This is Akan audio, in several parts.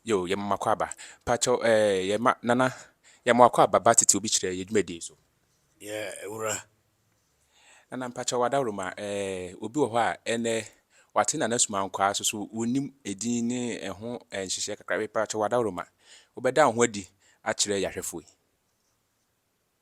Yoo yɛma mo akwaaba. Mpakyɛw ɛɛ yɛma Nana yɛma wo akwaaba ba tete obi kyerɛ yɛ dwumadie so. Yeah wura. Nana mpakyɛw w'adaworoma ɛɛ obi wɔ hɔ a ɛnɛ wate Nana Sumankwaa so so wonnim edin ne ɛho nhyehyɛɛ kakra mpakyɛw w'adaworoma wobɛda wo ho adi akyerɛ yɛ ahwɛfoɔ yi.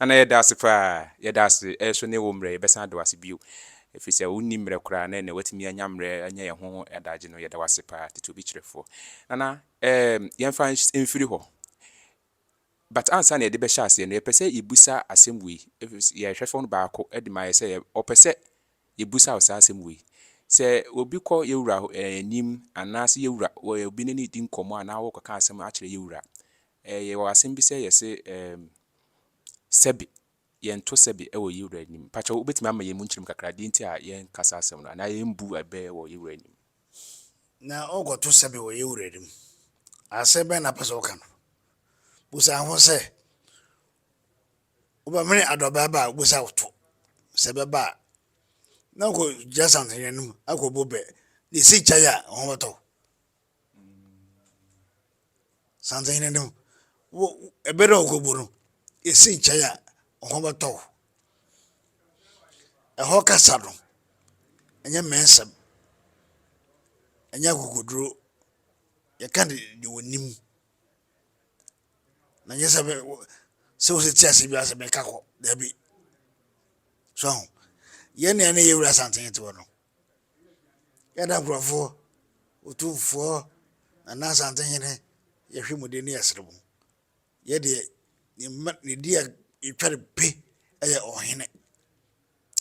Nana yɛda ase paa. Yɛda ase nso ne wo mmerɛ. Yɛbɛsan ada wo ase bio. Ɛfiri sɛ wonni mmerɛ koraa na ɛnnɛ woatumi anya mmerɛ anya yɛn ho adagye no. Yɛda wo ase paa. Tete obi kyerɛfoɔ. Nana, ɛɛm, yɛmfa nhyɛ, mfiri hɔ. But ansa na yɛde bɛhyɛ aseɛ no, yɛpɛ sɛ yɛbisa asɛm wei. Ɛfiri sɛ, yɛhwɛ fam no baako de ma yɛ sɛ yɛ, ɔpɛ sɛ Yebisa wo saa asɛm wei, Sɛ obi kɔ yɛn Wura anim anaasɛ yɛn Wura wɔ obi ne no di nkɔmmɔ anaa ɔrekɔka asɛm akyerɛ yɛn Wura a, yɛwɔ asɛm bi sɛ yɛse sɛbe, yɛnto sɛbe wɔ yɛn Wura anim. Mpakyɛw wobɛtumi ama yɛn mu nkyerɛmu kakra deɛ nti a yɛnka saa asɛm no anaa yɛmbu bɛ wɔ yɛn Wura anim? Na worekɔto sɛbe wɔ yɛn Wura anim, asɛm bɛn na wopɛ sɛ woka no? Bisa ho sɛ. Wobɛmene adɔbaa ba a ogu sɛ awotɔ, sɛ ɛbɛba a, na ɔkɔgyina santenhene no mu akɔbɔ bɛ. Ne si kyɛe a, wo ho bɛtɔ wo. Santenhene no, wo ɛbɛ na ɔkɔbɔ no, esi kyɛe a, wo ho bɛtɔ wo. Ɛhɔ kasa no, ɛnyɛ mmɛnsɛm, ɛnyɛ akokoduro, yɛka de deɛ wɔnim. na nyɛ sɛ sɛ wo sɛ te ase bi ase meka kɔ daabi so ho yɛ nea ne yɛ wura santen te hɔ no yɛda nkurɔfoɔ ɔtumfoɔ nana santen hene yɛhwɛ mu de ne yɛsere mu yɛdeɛ ne di a ɛtwa ne pe ɛyɛ ɔhene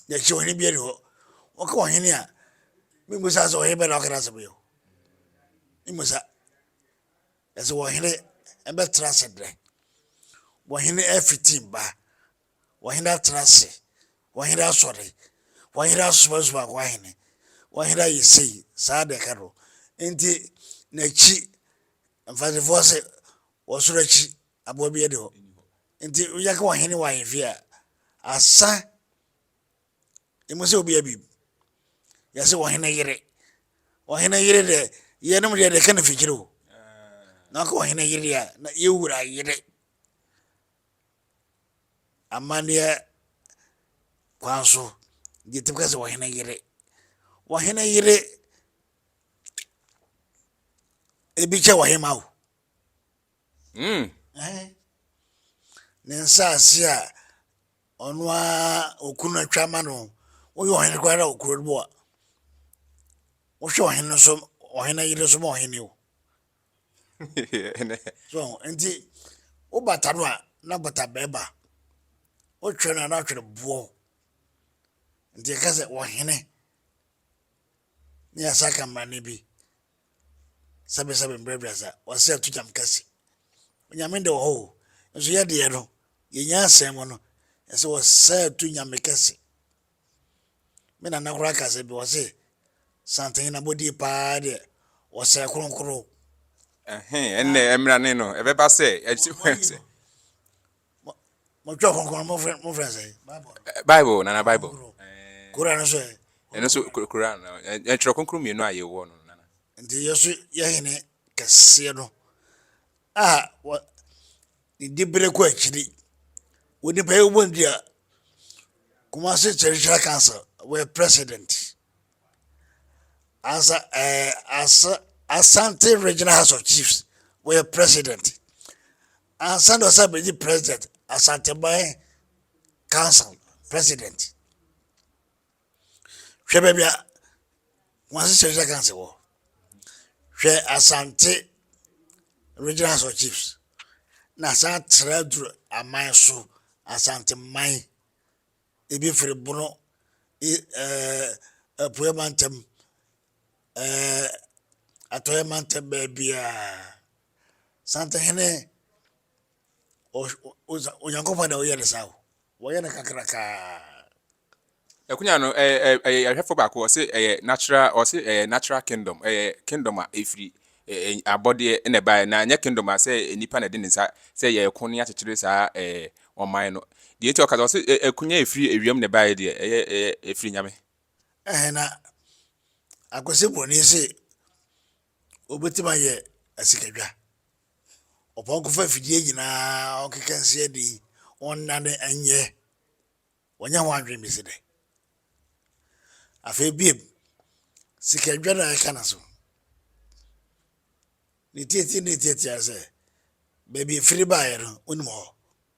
yɛkyɛ ɔhene bi ani hɔ wɔka ɔhene a memusa sɛ ɔhene bɛ na ɔkra sɛ bɛyɛ memusa Ɛsɛ ɔhene bɛtena ase dɛn? Ɔhene afiti mma, ɔhene atena ase, ɔhene asɔre, ɔhene asomasoma akɔ ahene, ɔhene ayɛ sei, saa na ɛka no. Nti n'akyi, mfarisefoɔ se, ɔsoro akyi aboa bi ani hɔ. Nti woyɛ ka ɔhene wɔ ahemfie a, asa. Inyim sɛ obi abib? Yɛse ɔhene yere. Ɔhene yere dɛ, yɛnom deɛ deka no fikyire o. Na ɔka ɔhene yere a, na yɛ wura yere. Amanneɛ kwan so, yɛtumi ka sɛ ɔhene yere. Ɔhene yere, ebi kyɛ ɔhema o. Mm. Ɛhɛn. Ne nsaase a Ɔno ara ɔkunu no atwa ama no. Woyɛ ɔhene koraa wɔ kuro no mu a, wohwɛ ɔhene no so, ɔhene yere so ma ɔhene o. so nti wobata no a na bata bɛɛba wotwerɛ no a na atwerɛ boɔ nti ɛka sɛ wɔhene ne yɛsa ka mmara no bi sɛbesɛbe mbrɛbrɛdza, ɔsɛ atogyam kɛse. Onyame de wɔ hɔ o, nso yɛ deɛ no, yɛ nyansam mu no, ɛsɛ wɔsɛ ato Nyame kɛse. Me nana koraa ka asɛm bi, ɔse, Santene abɔdie paa deɛ, ɔsɛ kronkron. Ɛhee, ɛnnɛ, mmrane no, ɛbɛba sɛ, ɛkyerɛ sɛ. Mɔtwerɛ kronkron no mofrɛ no sɛ? Bible nana Bible. Koran nso ɛ? Ɛno nso Koran no ɛtwerɛ kronkron mmienu a yɛwɔ no nana. Nti yɛ so yɛ hene kɛseɛ no a wɔ ne dibere kɔ akyiri wɔ nipa yɛ wɔ ndi a Kumasi Traditional Council wɔ president ansa ɛɛ asa Asante Regional House of Chiefs wɔ president. Ansa na ɔsan abɛgye President Asanteman Council President. Hwɛ baabi a wɔn ahyehyɛ regional council wɔ. Hwɛ Asante regional house of chiefs na san tra duru aman so Asanteman ebi firi bono ɛɛ apueɛ mantam ɛɛ atɔeɛ mantam baabiara. Santehene, Onyankopɔn na ɔyɛ no saa o. Wɔyɛ no kakrakaa. Akunya no ɛyɛ yɛhwɛfo baako ɔse ɛyɛ natural ɔse ɛyɛ natural kingdom ɛyɛ kingdom a ɛfiri abɔdeɛ na ɛbaeɛ na ɛnyɛ kingdom a sɛ nipa na ɛde ne nsa sɛ yɛko ne akyekyere saa ɛɛ ɔman no deɛ nti ɔka sɛ ɔse akunya ɛfiri awiam na ɛbaeɛ deɛ ɛyɛ ɛyɛ ɛfiri nyame ɛhɛn na akwasi broni se Obetumi ayɛ asikadwa. Ɔpɔnkɔ fa afidie nyinaa ɔkeka nsia di ɔnnane nyɛ ɔnyɛ ho adwene bɛsi dɛn? Afei bio, sikadwa na ɛka no so. Ne tiatia ne tiatia sɛ baabi afiri baeɛ no wonim hɔ.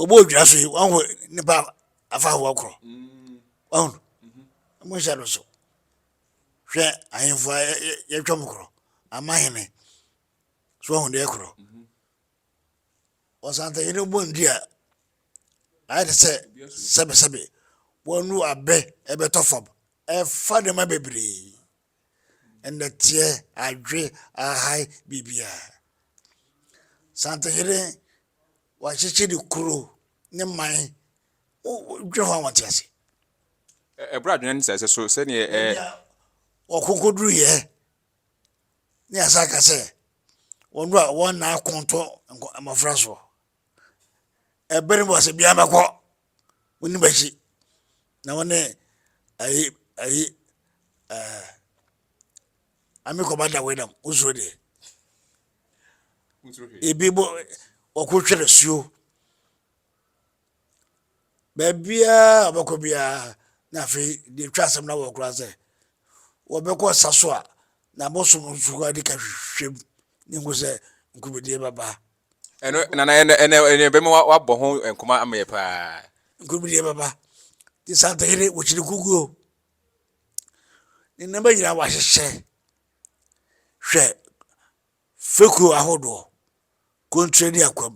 obi wɔ dwa so yi wɔn ho nipa afa ahoɔ korɔ wɔn ho wɔn nhyɛ no so hwɛ ahemfo a yɛtwa mu korɔ ama hene so wɔn ho deɛ korɔ ɔsantahene bɔ ndi a ayɛ te sɛ sɛbesɛbe wɔn nu abɛ ɛbɛtɔ fam ɛfa nneɛma bebree. nnɛteɛ, adwe, ahae, biribiara. Santehene, wakyekye ne kuro, ne man. Wo wo dwene ho a wɔnte ase. Ɛ- ɛberɛ a adwene no sɛe sɛ so sɛdeɛ ɛ, Baabi a wɔkɔkɔduruiɛ ne yɛasa aka sɛ wɔn do a wɔnna ako nto nkɔ- mmɔfra soɔ. Ɛberɛ no mu a sɛ biara bɛkɔ. Wo ne bɛhye na wo ne ayi ayi ɛɛ ami kɔba da wei nam wo suro deɛ. Ebi bɔ ɔko twere suo. Baabiara a ɔbɛkɔ biara na afei deɛ etwa asɛm na wɔ koraa sɛ wɔbɛkɔ sa so a na abosom nso adi ka hwehwɛ mu ne nko sɛ nkubedie bɛba. Ɛno na na ɛnɛ ɛnɛ ɛnɛ bɛma wa- wabɔ ho nkɔmɔ ama yɛ paa. Nkurom deɛ baba te santayere wɔkyiri kuguo ne nneɛma nyinaa wɔahyehyɛ hwɛ fekuo ahodoɔ kontrɛ ne akwam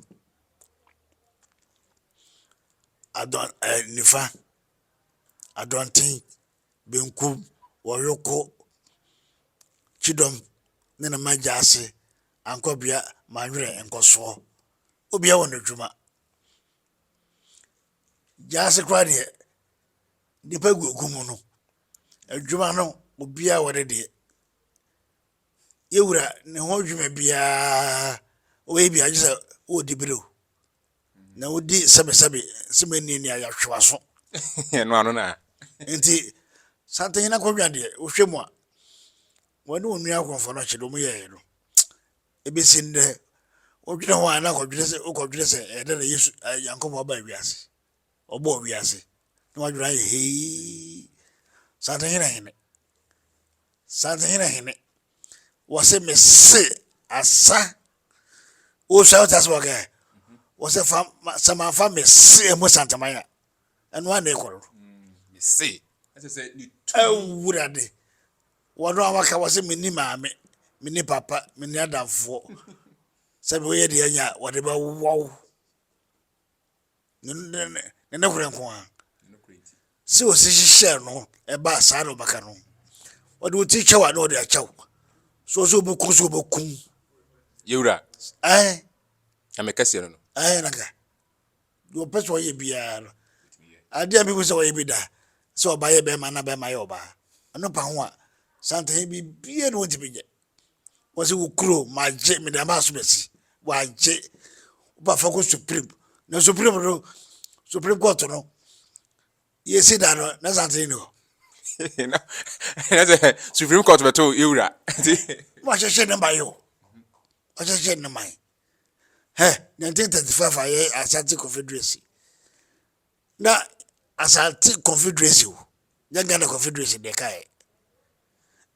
adɔn ɛɛ nifa adɔnten benkum wɔ Yoko kyidɔm ne ne mma gyaase ankɔbea Manwerɛ nkɔsoɔ. Obia wɔ n'adwuma. Gyaase koraa deɛ nnipa gu gu mu no, adwuma no obia wɔ ne deɛ. Yɛwura ne ho adwuma biaa ɔyɛ biaa gye sɛ ɔɔdi bere o. na wodi sɛbesɛbe sɛ menni nea yɛahwe w'aso. Ɛno ano na. Nti Santahene akonnwa deɛ wohwɛ mu a wɔne wɔn nua akɔmfo no akyɛde wɔn yɛeɛ no ebesi nnɛ wodwene ho a na akɔdwene sɛ wokɔdwene sɛ ɛyɛ dɛ na Yesu Nyankopɔn aba wiase ɔbɔɔ wiase na wadwene ayɛ hei Santahene hene Santahene hene wɔse mese asa wosua wote ase wɔ kɛ wɔsɛ fa sɛ manfa mese ɛmu santaman a ɛno a na ɛkɔrɔ mese ɛsɛ sɛ ne tu awurade wɔno a waka wɔ sɛ menni maame menni papa menni adamfoɔ sɛ bɛyɛ deɛ anya wɔde bɛwɔw ne nokorɛ nko ara sɛ ɔsi hyehyɛɛ no ɛbaa saa na ɔbɛka no ɔde wo ti kyɛw a na ɔde akyɛw so ɔsɛ ɔbɛku so ɔbɛku yɛwura ɛn na mekɛseɛ no no ɛn naka deɛ ɔpɛ sɛ ɔyɛ biara no adeɛ a mehu sɛ ɔyɛ bi da sɛ ɔba yɛ bɛrima na bɛrima yɛ ɔbaa ɛno pa ho a santahe biribiara na ɔntumi nyɛ wɔse wo kuro magye mede ama asomasi wagye woba fa kɔ supreme na supreme no supreme court no yɛsi da no na sante ne hɔ ɛnɛ sɛ supreme court bɛto yɛwura nti wahyɛhyɛ ne ma yɛ o wahyɛhyɛ ne ma yɛ hɛ 1935 a yɛ asante confederacy Na Asante Confederacy o, nyɛ Ghana Confederacy na ɛkaeɛ.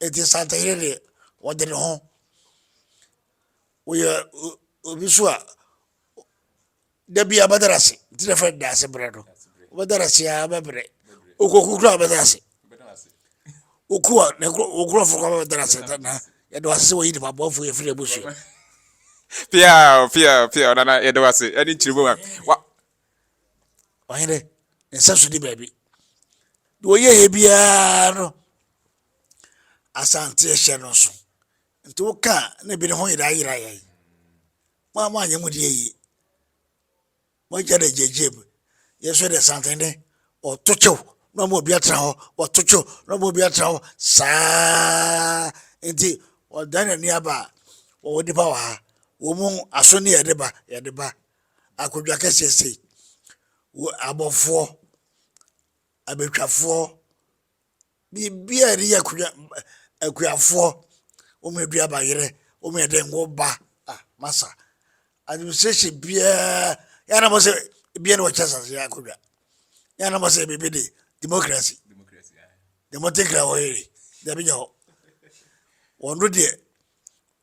Enti Asantehene deɛ, ɔde ne ho. Woyɛ obi nso a, da bi abɛdara ase, nti na fɛn daase berɛ no. Wobɛdara ase a bɛbrɛ. Okoku kura abɛdara ase. Oku a, na okurɔfo kɔ abɛdara ase na yɛde wase sɛ wɔyi nipa bɔfo yɛfiri abusua. Pia, pia, pia, ɔnana yɛde wase ɛne nkyerɛmu a. Ɔhene, ne nsa so ni baabi. Deɛ ɔyɛeɛ biara no, Asante hyɛ no nso. Nti woka ne bere ho yera yera yɛn. Mo a moanyɛ mo deɛ yie. Moagya dɛ gyegyeem. Yɛn nso yɛde santene wɔto kyew na ɔma obi atena hɔ wɔto kyew na ɔma obi atena hɔ saa nti wɔdan n'ani aba a wɔwɔ nipa wɔ ha wɔn mu aso ne yɛde ba yɛde ba akondwa kɛseɛ sei, wo abɔfoɔ, abɛtwafoɔ, biribiara a ɛde yɛ akondwa, akuafoɔ, wo mɛ dua ba yere, wo mɛ dɛn wo ba, ah, masa, administration biara, yɛn na mo sɛ, biara na wɔkyɛ sase yɛ akondwa, yɛn na mo sɛ, biribi de, democracy, deɛ mo te kra hɔ yere, dabi nyɛ hɔ, wɔn do deɛ,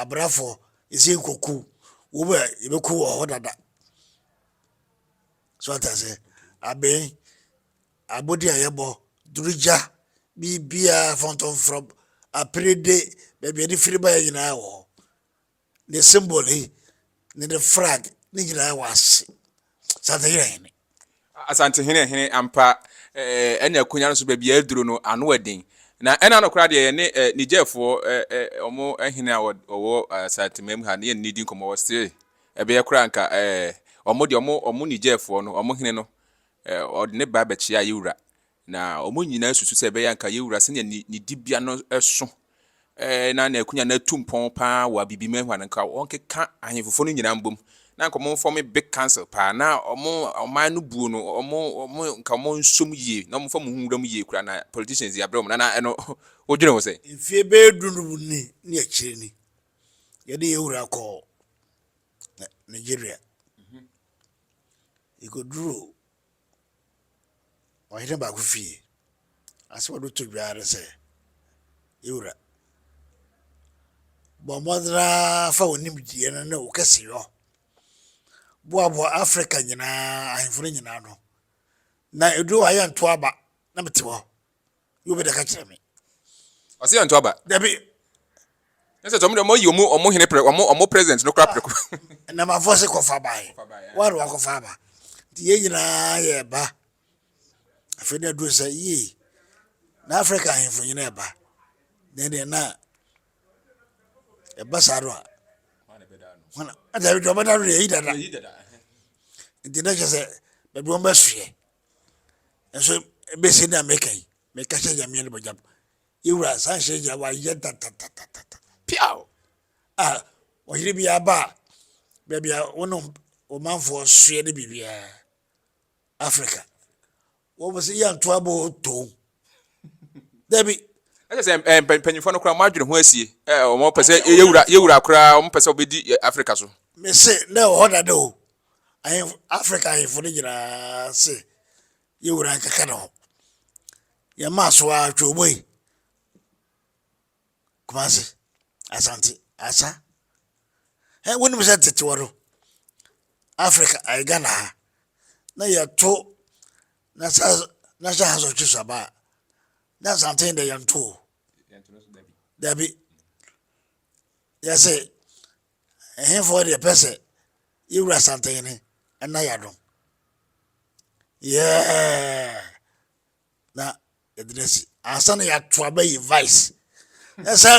Abrafo ese nkɔku wo bɛ yɛbɛku wɔ hɔ dada so ata sɛ abɛn abɔdi a yɛbɔ durugya biribiara fɔntɔmfrɔm aperede baabi a yɛde firi baeɛ nyinaa wɔ hɔ ne symbol yi ne ne flag ne nyinaa wɔ ase Asantehene hene. Asantehene hene ampa ɛɛ ɛne akonya no so baabi a aduro no ano ɛden na ɛna no koraa deɛ yɛne ɛ Nigerfoɔ ɛ ɛ ɔmo ɛhene a ɔwɔ Asantehene mu ha ne yɛne ne di nkɔmɔ wɔ still ɛbɛyɛ koraa nka ɛɛ ɔmo deɛ ɔmo ɔmo Nigerfoɔ no ɔmo hene no ɛ ɔde ne ba bɛkyea yɛ wura Na wɔn nyinaa susu sɛ ɛbɛyɛ a anka yɛn wura sɛnea ne, ne dibea no so eh, na n'akunya no atu mpɔn paa wɔ abibim hɔ a, na anka wɔnkeka ahemfofo no nyinaa mbom, na anka wɔmfɔm big council paa, na wɔn ɔman no buo no, wɔn, wɔn, nka wɔn nsom yie, na wɔmfa mu ho nwura mu yie koraa, na politicians yi abrɛ wɔn, na, na ɛno, wodwene ho sɛ. Mfie bɛyɛ du no mu ni ne akyire ni, yɛde yɛn wura kɔɔ Nigeria. Yɛkɔduruu ɔhene baako fie. Asɛm a ɔde to dwa ara ne sɛ, Yɛn wura, bɔ mmɔden ara fa wo nimdeɛ no ne wo kɛseyɔ boaboa Afrika nyinaa ahemfo no nyinaa ano, na ɛduru hɔ a yɛntoa aba na mete hɔ. Yɛ obi da ka kyerɛ me. Ɔse yɛnto aba. Dabi. Ne sɛ tɔm dɛ ɔmo yi ɔmo ɔmo hene prɛ ɔmo ɔmo president no kora prɛko. Nnamafoɔ se kɔfa aba he. Woa na wakɔfa aba. Nti yɛn nyinaa yɛ ba. Afei na aduru sɛ yii na Africa ahemfo nyina ɛba. Nɛ deɛ na ɛba saa no a. Hwana na ɛbɛda no. Ɔbɛda no deɛ yɛyi dada. Nti na kyerɛ sɛ baabi wɔn bɛsoɛ. Nso besi na meka yi, meka hyɛ Nyame ne bɔgyam. Yewura saa nhyɛ gyina wayɛ tatatatata. Piaw! A ɔyere bi aba a baabi a wo ne wo manfoɔ soɛ ne biribiara Africa. Wɔn sɛ yɛ ntoa bɔ toom. Dabi. Ɛsɛ sɛ eh, mpa- mpanyinfoɔ no koraa wɔn adwene ho asie eh, wɔn pɛ sɛ yɛ- yɛwura yɛwura koraa wɔn pɛ sɛ wɔbɛdi eh, africa so. Mese na ɛwɔ hɔ dada o. Ahemfo, Africa ahemfo no nyinaa se yɛn wura nkeka ne ho. Yɛn maa so ara twɛ ɔmo yi. Kumase, Asante, Asa. Ɛ wonim sɛ tetewa no Africa ayɛ Ghana ha na yɛto na sa na hyɛ ha sɔ twe saba a na Asante dɛ yɛnto o. Dabi. Yɛse Ɛhefoɔ deɛ pɛ sɛ yɛwura Asantehene na yɛadom? Yeah! Na yɛde no asi. Ansa na yɛato aba yi vice. Ɛ sɛ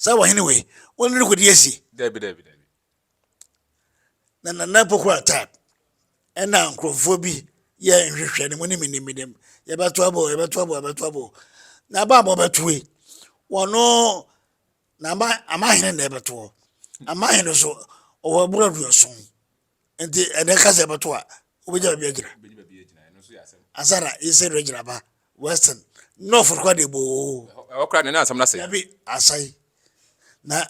sɛ wɔhene wei, wɔn ne kɔdi asi. Dabi dabi dabi. Na nana pokora type. Ɛna nkurɔfoɔ bi yɛ nhwehwɛ ne mu ne menim menim. Yɛbɛto abo, yɛbɛto abo, yɛbɛto abo. Na aba a wɔbɛto yi, wɔn na ama ama hene na ɛbɛto hɔ ama hene so ɔwɔ abura aduɔson nti ɛnɛ ka sɛ ɛbɛto a wobɛgya baabi agyina ansa na yɛsɛ no agyina ba western north kora de boo ɛhɔ kora ne ne asɛm no asɛe dabi asɛe na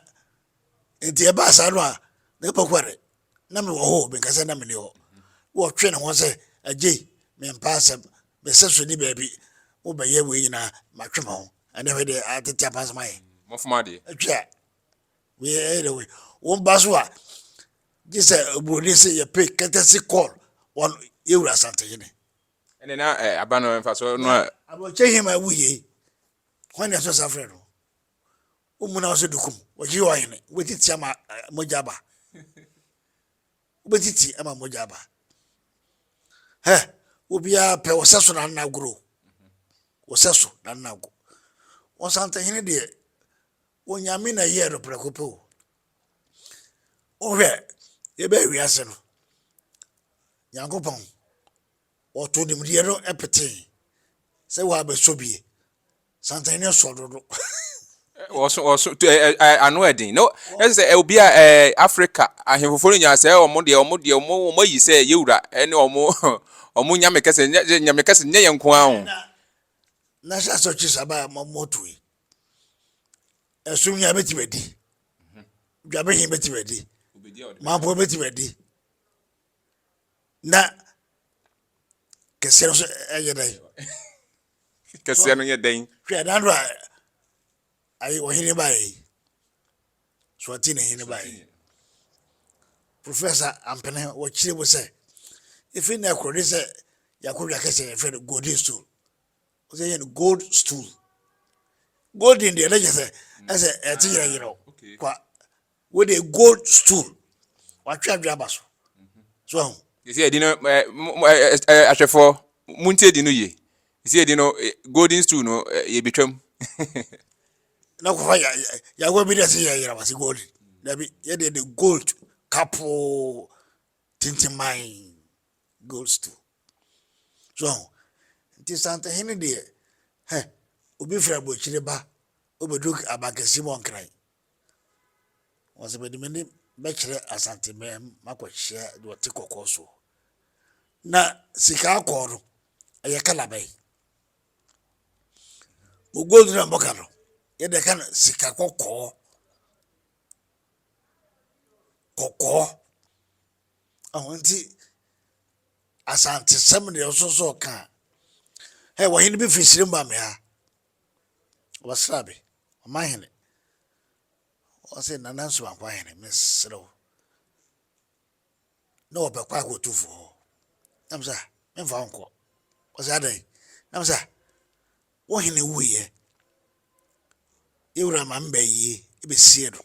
nti ɛbaa saa no a na ɛbɛkɔ dɛ na mewɔ hɔ o, menka sɛ na menni hɔ. Wɔ ɔtwe ne ho sɛ, Agye, mempa asɛm, mesɛ so nni baabi, wo bɛyɛ wei nyinaa, matwe me ho. Ɛnɛ hwɛ deɛ atete apa asɛm ayɛ. Mɔfom adeɛ. Atwi a, wei ɛyɛ dɛ wei. Wo mba so a, gye sɛ oburoni se yɛpɛ kɛtɛsi kɔɔl wɔn yɛwura asante hene. Ɛnɛ na eh, aba no mfa so no a. Abrɔkyɛ hima wuye, hwan na ɛsɔ sa frɛ no? Wommu no ase dukum. Wɔyere ɔhene. Wobɛtiti ama mogya aba. Wobɛtiti ama mogya aba. Hɛ, wobiara pɛ wɔsɛ so na nna agoro. Wɔsɛ so na nna ago. Wɔn santahene deɛ, onyame na ɛyɛɛ no prɛko pɛ o. Wohwɛ, yɛbɛɛ wiase no, Nyankopɔn Wɔtoo nimdeɛ no petee sɛ wɔabɛsɔ bi. Santen no sɔ dodo. Wɔso wɔso tu ɛ ɛ ano ɛden no ɛsɛ sɛ ɛ obi a ɛ Afrika ahemfofo no nyinaa sɛ wɔn deɛ wɔn deɛ wɔn wɔn ayi sɛ yɛwura ɛne wɔn wɔn nyame kɛse nyɛ nyame kɛse nyɛ yɛn nko ara o. Na sɛ asɔkye saba a mo mo tui ɛsum nyɛ abɛtumi adi dwabehin bɛtumi adi mampo bɛtumi adi. na kɛseɛ no nso yɛ dɛn kɛseɛ no yɛ dɛn hwɛ nando a ayi ɔhene baeɛ yi so ɔte ne hene baeɛ yi professor ampene wɔkyerɛ mu sɛ ɛfiri na ɛkorɔ ne sɛ yɛakɔdwa kɛsɛ yɛfrɛ no golden stool ɔsɛ yɛ no gold stool golden deɛ na kyɛ sɛ ɛsɛ ɛte yerɛyerɛ kwa Wei de gold stool watwe adwene aba so so ahu. Sisi edi no ɛ mo ɛ ɛ ahwɛfo mo nti edi no yie sisi edi no golden stool no yɛ betwam. Na kɔfa ya ya yagoa bi de ɛsɛ yɛ yɛrɛ wase golden dabi yɛ de de gold kapoo tintiman gold stool so ahu nti santehene deɛ hɛ obi fira bɔ akyire ba obedu abankɛse mu ɔnkran. Ɔse mede m'anim bɛkyerɛ Asante mɛm makɔkyea deɛ ɔte kɔkɔɔ soɔ. Na sika akɔɔ no ɛyɛ kala bɛn? Mo gold na mɔka no yɛde ɛka no sika kɔkɔɔ kɔkɔɔ ɛho nti Asante sɛm deɛ ɔsosɔ ɔka ɛ wɔhene bi firi sire mu ba me ha. Wɔsera me, ɔmanhene. Wɔse, Nana Nsuba Nkwahene, mesrɛ wo. Na wɔpɛ kɔ akɔ otumfoɔ hɔ. Na mesɛ, ah, memfa wo nkɔ. Wɔse, adɛn? Na mesɛ, ah, wo hene wuiɛ. Yɛwura ma meba yie, ɛbɛsie no.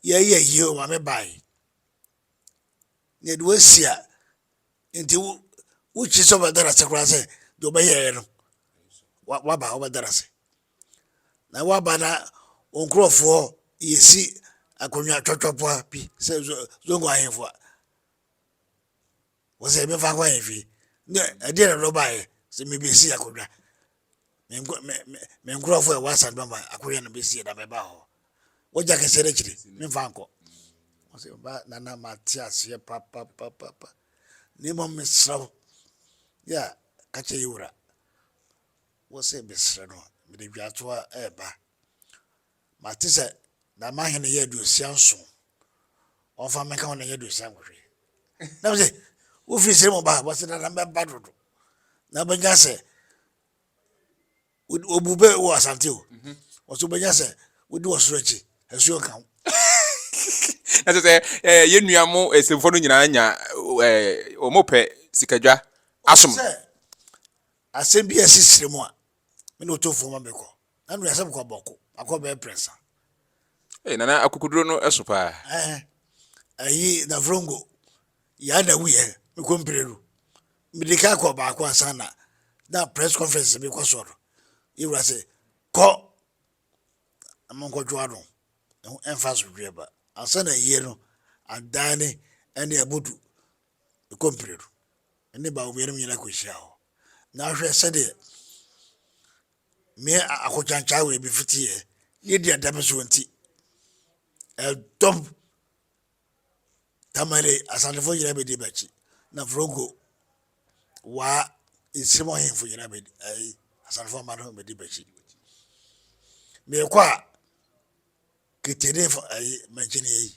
Yɛyɛ yie o ma mebae. Na ɛde wɔasi a, Nti wo wokyi sɛ ɔbɛda no ase koraa sɛ deɛ ɔbɛyɛɛ no waba ɔbɛda no ase na waba na wo nkurɔfoɔ yɛsi akonnwa twɔtwɔpoa bi sɛ zongo ahemfo a wɔ sɛ yɛbɛfa kɔ ahemfie ne ɛdeɛ na dɔ baeɛ sɛ mebɛsi akonnwa me nko me me me nkurɔfo a ɛwɔ asante bɛma akɔyɛ no bɛsie na mɛba hɔ wogya kɛseɛ no akyiri memfa nkɔ ɔsɛ ba nana mate aseɛ papapapapa na mmom mesrɛ wo yɛ a ka kyɛ yɛ wura wo sɛ mesrɛ no mede dwatoa ɛɛba Mate sɛ na m'ahene yɛ aduosia nson, wɔmfa me nka ho na ɛnyɛ aduosia nwɔtwe. Na mese, wofiri sere mu baa? Wɔse, dada mɛba dodo. Na wobɛnya sɛ, wɔbu bɛ wɔ Asante o, mhm. wɔso wobɛnya sɛ wodi wɔ soro akyi, asuo nka ho. ɛsɛ sɛ eh, yɛn nua mo eh, nsɛmfo no nyinaa nya eh, wɔn pɛ sikadwa asom. asɛm bi a ɛsi sere mu a me na ɔtɔfoɔ ma mekɔ Nanu yɛ asɛm kɔ bɔko akɔ bɛyɛ prɛnsa. Ei nana akokoduro no ɛso paa. Ɛɛ ɛyi dafrongo yaa na wu yɛ mi kɔ mpireru mi de ka kɔ baako ansa na na press conference mi kɔ sɔɔ no yi wura sɛ kɔ ɛmo nkɔ dwoa no ɛho ɛnfa so dwoɛ ba ansa na yie no adaani ɛne abudu mi kɔ mpireru ɛne baako mmienu nyina kɔ hyia hɔ na ahwɛ sɛdeɛ. me akokyaankyaa wei me fiti yɛ ne di ɛda me so nti ɛdɔm tamale asantefo nyinaa bɛdi m'akyi na frongo waa nsirem ɔhenfo nyinaa bɛdi ɛyi asantefo ama no bɛdi m'akyi meekɔ a ketene fo ɛyi mankyini ɛyi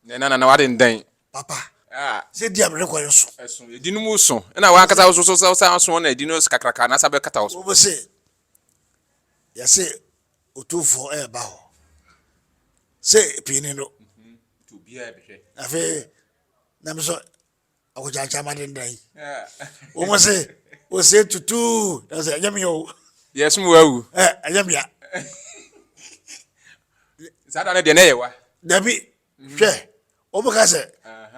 Nɛ na nana w'aden dɛn? Papa, sɛ di a mene kɔ yɛ so. Ɛso, ɛdi no mu so. Ɛna w'ankasa woso so sɛ wosan aso wɔn na ɛdi no kakraka na asa bɛ kata wo so. Wɔbɛ se, yɛse Otumfoɔ ɛɛba hɔ. Se pii ni no. Nti obiaa bɛhwɛ. Afei, Nyame so akɔkyankyan ma dendan yi wɔn se ose tutuu na sɛ ɛnyɛ mea o yɛsom wawu ɛnyɛ mea saa da no deɛ na ɛyɛ wa dabi mhm. hwɛ wɔbɛka sɛ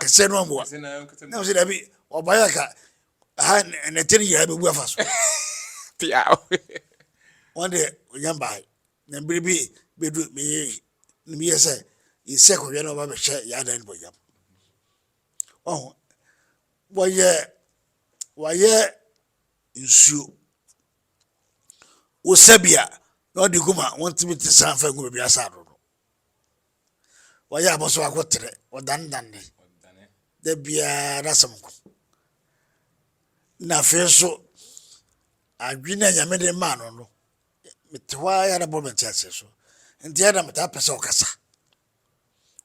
kɛsɛ no amboa na sɛ dabi ɔbayɛ ka ha ne tiri yɛ bɛbu afa so pia wɔn deɛ ɔnya mbae na bere bi bɛdu meyɛ meyɛ sɛ yɛsɛ kɔhwɛ na ɔba bɛhyɛ yɛ adan no bɔyam Wahu? Wɔyɛ, wɔayɛ nsuo. Wosa bi a, na ɔde gu ma wɔntumi te san fa ngu baabi asa ano no. Wɔyɛ abɔ so akɔtrɛ, wɔdanedane. Da biara n'asɛm ko. Na afei nso, adwene a Nyame de maa no no, mete hɔ ara yɛ na bɔ me nteaseɛ so. Nti ɛna metaa pɛ sɛ ɔkasa.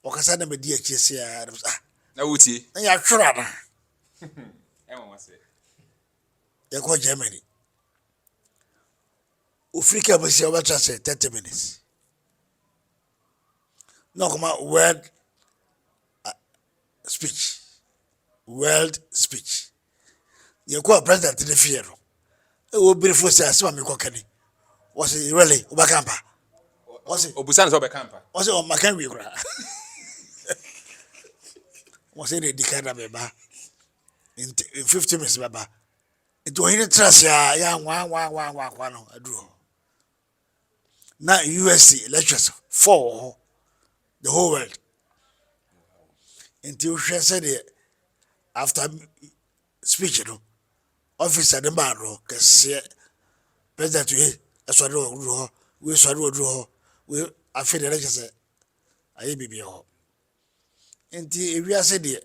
ɔkasa na medi akyire se aa na ah na wotie na yɛatwerɛ anaa ɛwɔ wa sɛ yɛkɔ Germany ofiri ka mu si ɔbɛtra sɛ 30 minutes na ɔkɔma word speech world speech Yɛkɔɔ president ne fie no, ɛwɔ obiri fo sɛ asɛm a mekɔka ni. Wɔse, really, wobɛka mpa? Wɔse, Obusa no sɛ ɔbɛka mpa. Wɔse, ɔmmaka wie koraa. Wɔse, na ɛdi kan na meba. Nti, in 15 minutes mɛba. Nti, ɔhene tra ase a, yɛ anwa anwa anwa anwa anwa no aduru hɔ. na usa elections fɔ wɔ hɔ the whole world nti wohwɛ sɛdeɛ after speech no officer no maa no kɛseɛ president wei ɛsɔre wɔ duro hɔ wei sɔre wɔ duro hɔ wei afei deɛ ɛkyɛ sɛ ayɛ biribiɛ hɔ nti ewiase deɛ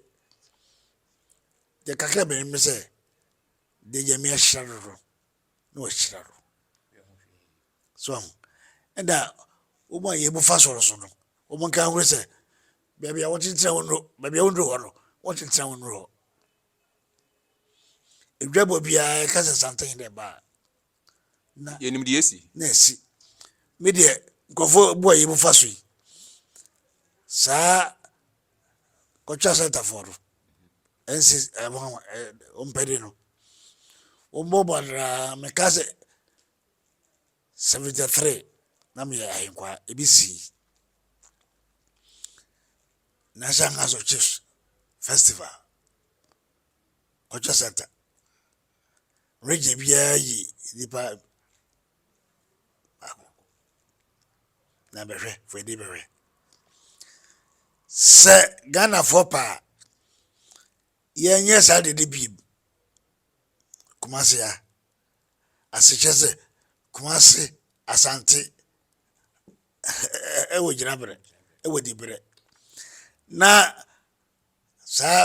deɛ kakra bɛnim ne sɛ deɛ nyame ahyira no no na wɔahyira no. So ahu? Ɛda wɔn a yɛbu fa soro so no, wɔn nka ahoro sɛ baabi a wɔkyekyerɛ wɔn no, baabi a wɔduru hɔ no, wɔkyekyerɛ wɔn duru hɔ. Edwabɔ biara ɛka sɛ santen dɛ baa. Na yɛnim deɛ asi. Na asi. Me deɛ nkurɔfoɔ bu a yɛbu fa so yi, saa kɔtwa sɛntafoɔ no, Ɛnsi ɛma wo ɛ wo mpɛde no. Wo mbɔ bɔ anaa me ka sɛ seventy three na me yɛ ahenkwaa ebi sii National Council of Chiefs festival culture center regye biara yi nipa baako na bɛhwɛ fɛdi bɛhwɛ sɛ ghanafoɔ paa yɛnyɛ saa dede biem kumase a asekyɛ sɛ kumase asante ɛwɔ gyina berɛ ɛwɔ di berɛ na saa